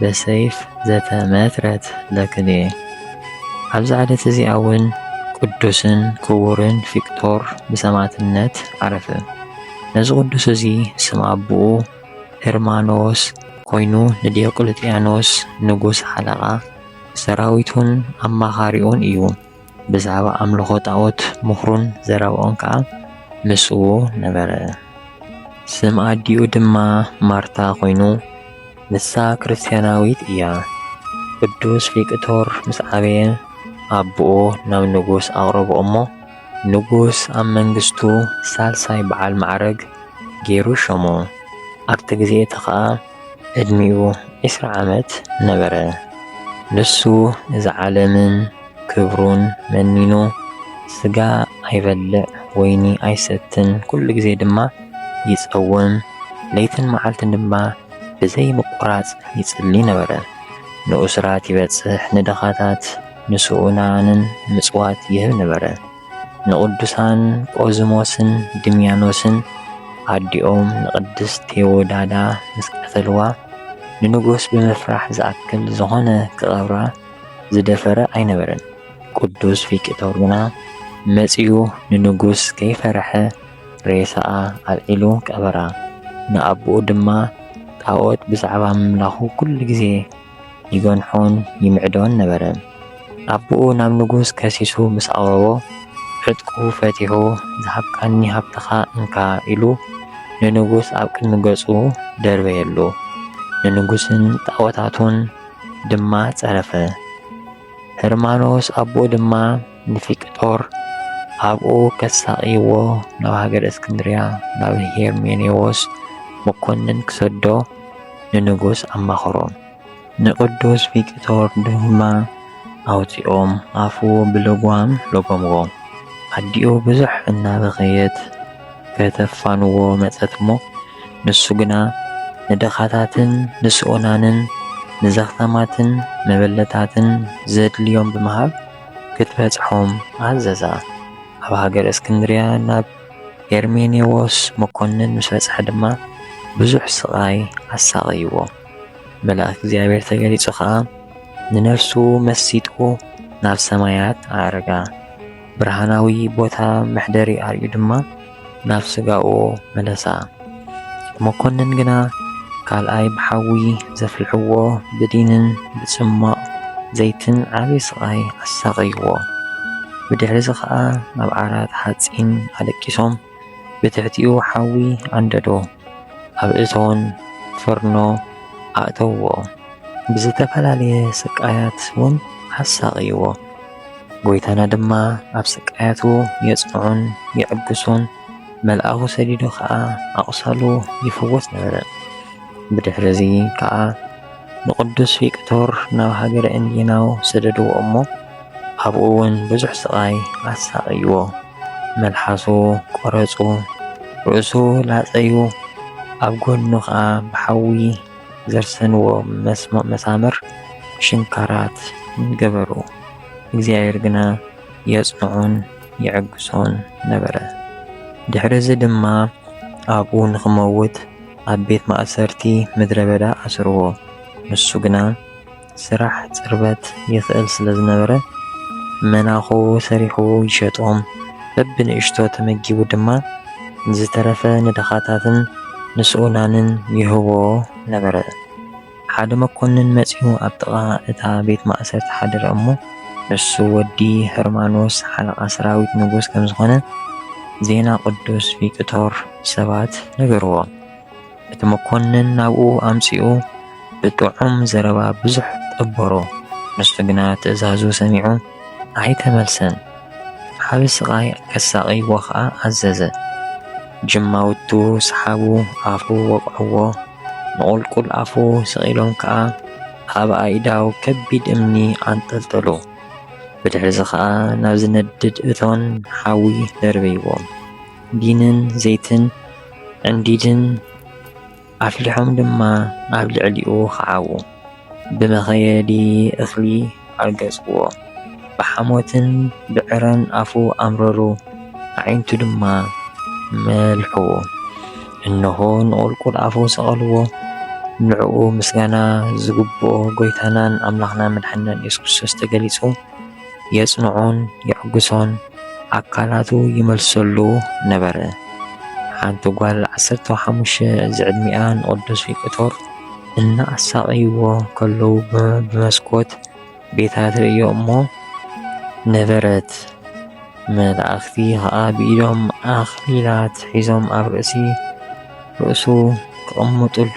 በሰይፍ ዘተመትረት ለክልኤ። ኣብዛ ዕለት እዚኣ እውን ቅዱስን ክቡርን ፊቅጦር ብሰማዕትነት ዓረፈ። ነዚ ቅዱስ እዚ ስም ኣቦኡ ህርማኖስ ኮይኑ ንዲዮቅልጥያኖስ ንጉስ ሓለቓ ሰራዊቱን ኣማኻሪኡን እዩ። ብዛዕባ ኣምልኾ ጣዖት ምኽሩን ዘረባኡን ከኣ ምስኡ ነበረ። ስም ኣዲኡ ድማ ማርታ ኮይኑ ንሳ ክርስትያናዊት እያ። ቅዱስ ቪክቶር ምስ ዓበየ ኣቦኡ ናብ ንጉስ ኣቕረቦ እሞ ንጉስ ኣብ መንግስቱ ሳልሳይ በዓል ማዕረግ ገይሩ ሸሞ። ኣብቲ ግዜ እቲ ኸኣ ዕድሚኡ ዕስራ ዓመት ነበረ። ንሱ እዚ ዓለምን ክብሩን መኒኑ ስጋ ኣይበልዕ ወይኒ ኣይሰትን ኩሉ ግዜ ድማ ይጸውም ለይትን መዓልትን ድማ ብዘይ ምቁራጽ ይጽሊ ነበረ ንኡስራት ይበጽሕ ንድኻታት ንስኡናንን ምጽዋት ይህብ ነበረ ንቅዱሳን ቆዝሞስን ድምያኖስን ኣዲኦም ንቅድስት ቴዎዳዳ ምስ ቀተልዋ ንንጉስ ብምፍራሕ ዝኣክል ዝኾነ ክቀብራ ዝደፈረ ኣይነበረን። ቅዱስ ፊቅጦር ግና መጺኡ ንንጉስ ከይፈርሐ ሬሳኣ ኣልዒሉ ቀበራ። ንኣቦኡ ድማ ጣኦት ብዛዕባ ምምላኹ ኩሉ ግዜ ይገንሖን ይምዕዶን ነበረ። ኣቦኡ ናብ ንጉስ ከሲሱ ምስ ኣቕረቦ ዕጥቁ ፈቲሑ ዝሃብካኒ ሃብትኻ እንካ ኢሉ ንንጉስ ኣብ ቅድሚ ገጹ ደርበየሉ። ንንጉስን ጣኦታቱን ድማ ጸረፈ። ህርማኖስ ኣቦኡ ድማ ንፊቅጦር ኣብኡ ከሳቕይዎ ናብ ሃገረ እስክንድርያ ናብ ሄርሜኔዎስ መኮንን ክሰዶ ንንጉስ ኣማኸሮ። ንቅዱስ ፊቅጦር ድማ ኣውጺኦም ኣፉ ብልጓም ለጎምዎ። ኣዲኡ ብዙሕ እናበኸየት ከተፋንዎ መጸት እሞ ንሱ ግና ንድኻታትን ንስኡናንን ንዘኽታማትን መበለታትን ዘድልዮም ብምሃብ ክትበጽሖም ኣዘዛ። ኣብ ሃገር እስክንድርያ ናብ ሄርሜኔዎስ መኮንን ምስ በጽሐ ድማ ብዙሕ ስቓይ ኣሳቐይዎ። መልኣክ እግዚኣብሔር ተገሊጹ ኸኣ ንነፍሱ መሲጡ ናብ ሰማያት ኣዕረጋ። ብርሃናዊ ቦታ መሕደሪ ኣርዩ ድማ ናብ ስጋኡ መለሳ። መኮንን ግና ካልኣይ ብሓዊ ዘፍልሕዎ ብዲንን ብጽሟቕ ዘይትን ዓቢ ስቓይ ኣሳቐይዎ። ብድሕሪ'ዚ ኸኣ ኣብ ዓራት ሓጺን ኣለቂሶም ብትሕቲኡ ሓዊ ኣንደዶ፣ ኣብ እቶን፣ ፍርኖ፣ ኣእተውዎ። ብዝተፈላለየ ስቃያት'ውን ኣሳቐይዎ። ጐይታና ድማ ኣብ ስቃያቱ የጽንዖን የዕግሶን፣ መልኣኹ ሰዲዱ ኸኣ ኣቝሳሉ ይፍወስ ነበረ። ብድሕርዚ ከኣ ንቕዱስ ቪቅቶር ናብ ሃገረ እንዲናው ሰደድዎ እሞ፣ ኣብኡ እውን ብዙሕ ስቓይ ኣሳቐይዎ። መልሓሱ ቈረጹ፣ ርእሱ ላጸዩ፣ ኣብ ጐድኑ ኸኣ ብሓዊ ዘርሰንዎ መሳምር ሽንካራት ገበሩ። እግዚኣብሔር ግና የጽንዖን የዕግሶን ነበረ። ድሕሪ እዚ ድማ ኣብኡ ንኽመውት ኣብ ቤት ማእሰርቲ ምድረ በዳ ኣስርዎ። ንሱ ግና ስራሕ ጽርበት ይኽእል ስለ ዝነበረ መናኹ ሰሪሑ ይሸጦም፣ በብንእሽቶ ተመጊቡ ድማ ንዝተረፈ ንድኻታትን ንስኡናንን ይህቦ ነበረ። ሓደ መኰንን መጺኡ ኣብ ጥቓ እታ ቤት ማእሰርቲ ሓደረ እሞ፣ ንሱ ወዲ ህርማኖስ ሓለቓ ሰራዊት ንጉስ ከም ዝዀነ ዜና ቅዱስ ቪቅቶር ሰባት ነገርዎ። እቲ መኮንን ናብኡ ኣምጺኡ ብጥዑም ዘረባ ብዙሕ ጠበሮ። ንሱ ግና ትእዛዙ ሰሚዑ ኣይተመልሰን። ዓቢ ስቓይ ከሳቕይዎ ኸኣ ኣዘዘ። ጅማውቱ ሰሓቡ፣ ኣፉ ወቕዕዎ፣ ንቑልቁል ኣፉ ስቒሎም ከኣ ኣብ ኣኢዳው ከቢድ እምኒ ኣንጠልጠሉ። ብድሕሪዚ ኸኣ ናብ ዝነድድ እቶን ሓዊ ደርበይዎም። ዲንን ዘይትን ዕንዲድን ኣፍሊሖም ድማ ኣብ ልዕሊኡ ኸዓዉ። ብመኸየዲ እኽሊ ኣርገጽዎ፣ ብሓሞትን ብዕረን ኣፉ ኣምረሩ፣ ኣዒንቱ ድማ መልሕዎ። እነሆ ንቑልቁል ኣፉ ሰቐልዎ፣ ንዕኡ ምስጋና ዝግብኦ ጐይታናን ኣምላኽናን መድሓኒናን ኢየሱስ ክርስቶስ ተገሊጹ። የጽንዖን የዕግሶን ኣካላቱ ይመልሰሉ ነበረ። ሓንቲ ጓል ዓሰርተ ሓሙሽተ ዝዕድሚኣ ንቅዱስ ቪክቶር እናኣሳቐይዎ ከለዉ ብመስኮት ቤታ ትርእዮ እሞ ነበረት። መላእኽቲ ኸኣ ብኢዶም ኣኽሊላት ሒዞም ኣብ ርእሲ ርእሱ ክቕምጥሉ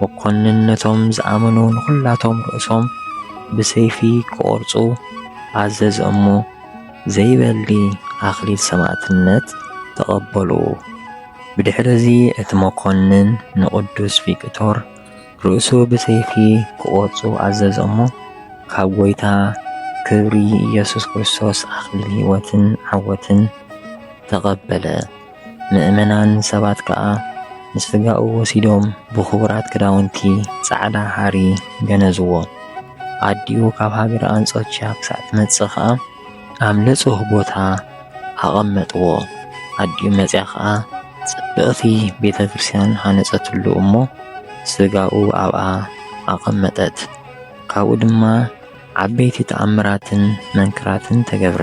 መኮንን ነቶም ዝኣመኑ ንዅላቶም ርእሶም ብሰይፊ ክቖርጹ ኣዘዘ እሞ፣ ዘይበሊ ኣኽሊል ሰማእትነት ተቐበሉ። ብድሕርዚ እቲ መኮንን ንቕዱስ ቪክቶር ርእሱ ብሰይፊ ክቖርጹ ኣዘዘ እሞ፣ ካብ ጐይታ ክብሪ ኢየሱስ ክርስቶስ ኣኽሊል ሕይወትን ዓወትን ተቐበለ። ምእመናን ሰባት ከኣ ምስ ስጋኡ ወሲዶም ብኽቡራት ክዳውንቲ ጻዕዳ ሃሪ ገነዝዎ። ኣዲኡ ካብ ሃገረ ኣንጾኪያ ክሳዕ ትመጽእ ከኣ ኣብ ንጹህ ቦታ ኣቐመጥዎ። ኣዲኡ መጺኣ ከኣ ጽብቕቲ ቤተ ክርስቲያን ሃነጸትሉ እሞ ስጋኡ ኣብኣ ኣቐመጠት። ካብኡ ድማ ዓበይቲ ተኣምራትን መንክራትን ተገብረ።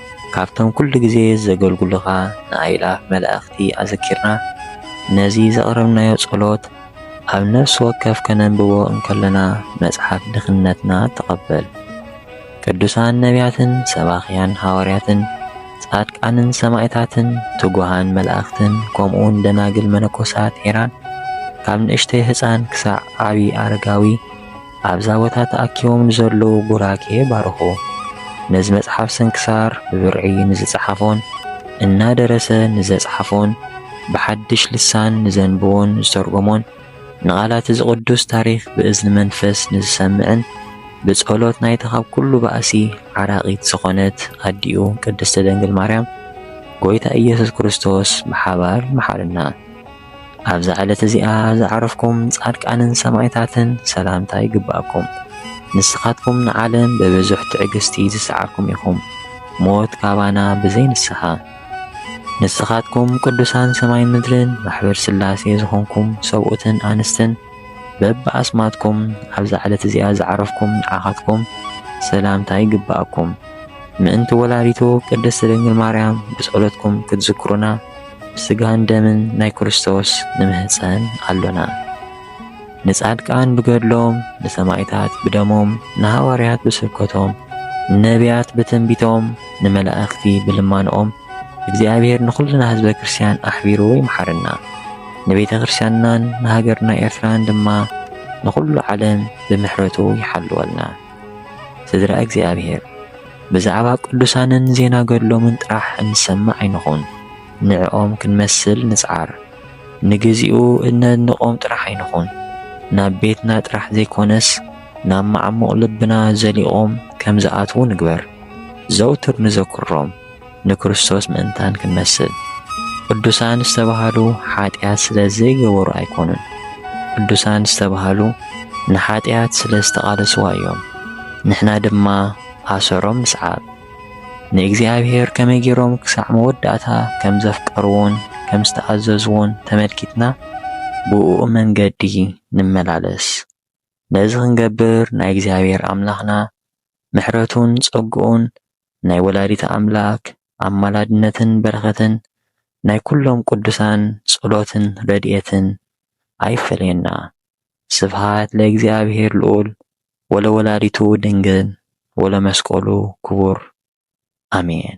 ካብቶም ኩሉ ግዜ ዘገልግሉኻ ንኣእላፍ መላእኽቲ ኣዘኪርና ነዚ ዘቕረብናዮ ጸሎት ኣብ ነፍሲ ወከፍ ከነንብቦ እንከለና መጽሓፍ ድኽነትና ተቐበል። ቅዱሳን ነቢያትን ሰባኽያን ሃዋርያትን ጻድቃንን ሰማእታትን ትጉሃን መላእኽትን ከምኡውን ደናግል መነኮሳት ሄራን ካብ ንእሽተይ ህጻን ክሳዕ ዓቢ ኣረጋዊ ኣብዛ ቦታ ተኣኪቦም ንዘለዉ ቡራኬ ባርኹ። ነዚ መጽሓፍ ስንክሳር ብብርዒ ንዝጸሓፎን እናደረሰ ንዘጽሓፎን ብሓድሽ ልሳን ንዘንብቦን ዝተርጎሞን ንቓላት'ዚ ቅዱስ ታሪኽ ብእዝኒ መንፈስ ንዝሰምዕን ብጸሎት ናይታ ካብ ኩሉ ባእሲ ዓራቒት ዝኾነት ኣዲኡ ቅድስቲ ድንግል ማርያም ጎይታ ኢየሱስ ክርስቶስ ብሓባር ይምሓረና። ኣብዛ ዕለት እዚኣ ዝዓረፍኩም ጻድቃንን ሰማእታትን ሰላምታ ይግብኣኩም። ንስኻትኩም ንዓለም ብብዙሕ ትዕግስቲ ዝሰዓርኩም ኢኹም፣ ሞት ካባና ብዘይ ንስሓ። ንስኻትኩም ቅዱሳን ሰማይን ምድርን ማሕበር ሥላሴ ዝኾንኩም ሰብኡትን ኣንስትን በብኣስማትኩም ኣብዛ ዕለት እዚኣ ዝዓረፍኩም ንዓኻትኩም ሰላምታ ይግብኣኩም። ምእንቲ ወላዲቱ ቅድስት ድንግል ማርያም ብጸሎትኩም ክትዝክሩና ብስጋን ደምን ናይ ክርስቶስ ንምህጸን ኣሎና። ንጻድቃን ብገድሎም፣ ንሰማይታት ብደሞም፣ ንሃዋርያት ብስብከቶም፣ ንነብያት ብትንቢቶም፣ ንመላእኽቲ ብልማኖኦም እግዚኣብሔር ንኹልና ህዝበ ክርስቲያን ኣሕቢሩ ይምሓረና። ንቤተ ክርስቲያንናን ንሃገርና ኤርትራን ድማ ንኹሉ ዓለም ብምሕረቱ ይሓልወልና። ስድራ እግዚኣብሔር! ብዛዕባ ቅዱሳንን ዜና ገድሎምን ጥራሕ እንሰምዕ ኣይንኹን። ንዕኦም ክንመስል ንጽዓር። ንግዚኡ እነድንቖም ጥራሕ ኣይንኹን። ናብ ቤትና ጥራሕ ዘይኮነስ ናብ መዓሙቕ ልብና ዘሊቖም ከም ዝኣትዉ ንግበር። ዘውትር ንዘክሮም። ንክርስቶስ ምእንታን ክንመስል ቅዱሳን ዝተባህሉ ሓጢኣት ስለ ዘይገበሩ ኣይኮኑን። ቅዱሳን ዝተባህሉ ንሓጢኣት ስለ ዝተቓለስዋ እዮም። ንሕና ድማ ኣሰሮም ንስዓብ። ንእግዚኣብሔር ከመይ ገይሮም ክሳዕ መወዳእታ ከም ዘፍቀርዎን ከም ዝተኣዘዝዎን ተመልኪትና ብእኡ መንገዲ ንመላለስ። ነዚ ክንገብር ናይ እግዚኣብሔር ኣምላኽና ምሕረቱን ጸግኡን ናይ ወላዲተ ኣምላክ ኣማላድነትን በረኸትን ናይ ኩሎም ቅዱሳን ጸሎትን ረድኤትን ኣይፈለየና ስብሃት ለእግዚኣብሔር ልዑል ወለወላዲቱ ድንግል ወለመስቀሉ ክቡር ኣሜን።